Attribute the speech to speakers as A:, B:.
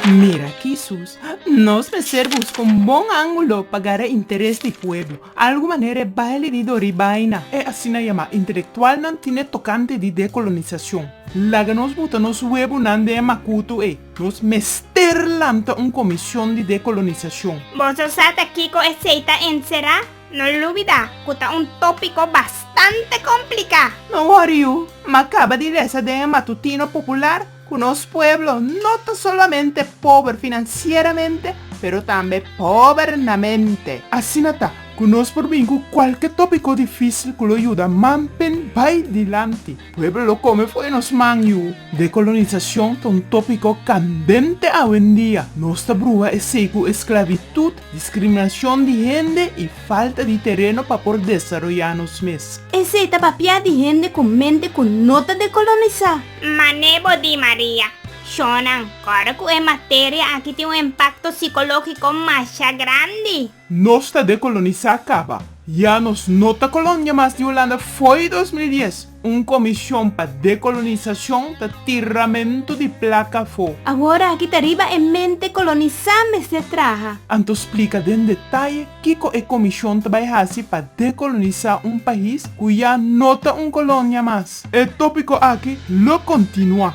A: Mira aki sus, nos mester busca un bon angulo pa gara interes di pueblo. Algu manera e baile di Dori Baina, e asina yama intelectualnan tine tocante di decolonisacion. Laga nos buta nos webunan den e macuto ey. Nos mester lanta un comision di decolonisacion. Boso sa ta
B: kico esey ta encera? No lubida cu ta un topico bastante complica. No woriu,
A: ma caba di lesa den e matutino popular cu nos pueblo no ta solamente pober financieramente pero tambe pober na mente. Asina ta cu nos por bin cu cualke topico dificil cu lo yuda manpen bay dilanti. Pueblo lo come fo'i nos man yu. Decolonisacion ta un topico candente awendia. Nos ta bruha esey cu esclavitud, discriminacion di hende y falta di tereno pa por desaroya nos mes. Esey ta papia di
C: hende cu mente cu no ta decolonisa. Mane bo di
B: Maria, Shonan, ora cu e materia aki tin un impacto psicologico masha grandi. Nos ta
A: dekolonisá kaba. Ya nos no ta kolonia mas di Hulanda fo'i dos mil dies. Un komishon pa dekolonisashon ta tiramentu di plaka afó. Awor aki ta riba
C: e mente kolonisá mester traha. Anto splika den
A: detaye kiko e komishon ta bai hasi pa dekolonisá un pais ku ya no ta un kolonia mas. E tópiko aki lo kontinuá.